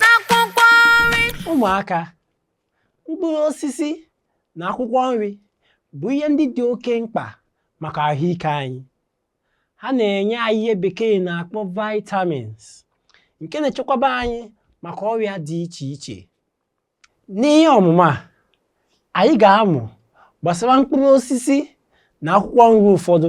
na akwụkwọ nri ụmụaka mkpụrụ osisi na akwụkwọ nri bụ ihe ndị dị oke mkpa maka ahụike anyị ha na-enye anyị ihe bekee na-akpọ vitamins nke na-echekwaba anyị maka ọrịa dị iche iche n'ihe ọmụmụ a anyị ga-amụ gbasara mkpụrụ osisi na akwụkwọ nri ụfọdụ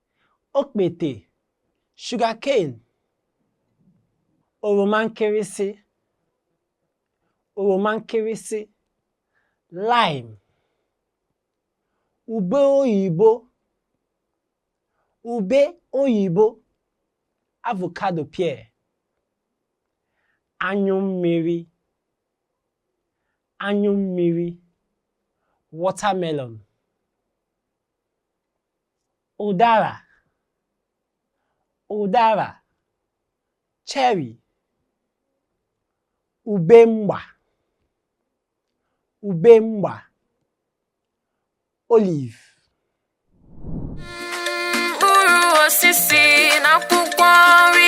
okpete sugarcane oroma nkịrịsị oroma nkịrịsị lime ube oyibo ube oyibo avocado pear anyụ mmiri anyụ mmiri watermelon ụdara ụdara cherry ube mgba ube mgba olive mkpụrụ osisi na akwụkwọ nri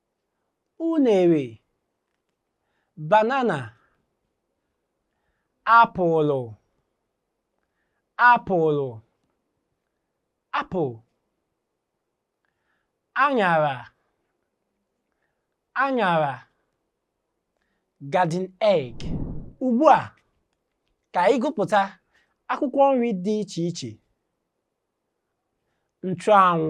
unere banana apụlụ apụlụ apple aṅara aṅara garden egg ugbu a ka anyị gụpụta akwụkwọ nri dị iche iche nchụanwụ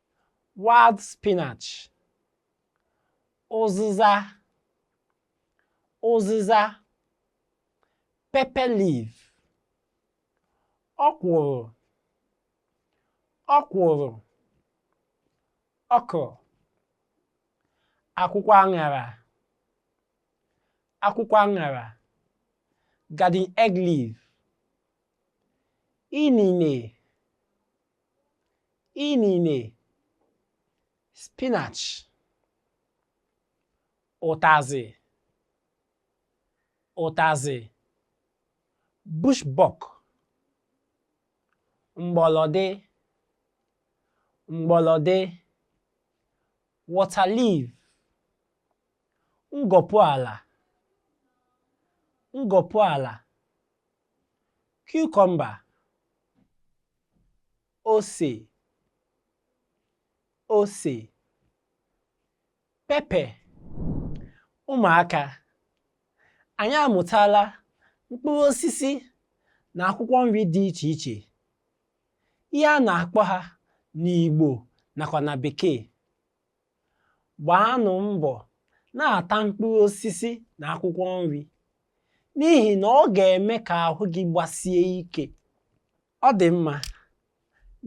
wild spinach ụzịza ụzịza pepper leaf ọkwụrụ ọkwụrụ okro akwụkwọ aṅara akwụkwọ aṅara garden egg leaf inine inine spinach ụtazị ụtazị bush buck mgbọlọdị mgbọlọdị water leaf ngọpụ ala ngọpụ ala cucumber ose ose pepper ụmụaka anyị amụtala mkpụrụ osisi na akwụkwọ nri dị iche iche ihe a na-akpọ ha n'Igbo nakwa na Bekee Gbaanụ mbọ na-ata mkpụrụ osisi na akwụkwọ nri n'ihi na ọ ga-eme ka ahụ gị gbasie ike. Ọ dị mma,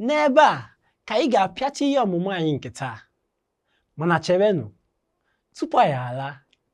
n'ebe a ka anyị ga-apịachi ihe ọmụmụ anyị nke taa. Mana cherenụ, tupu anyị alaa,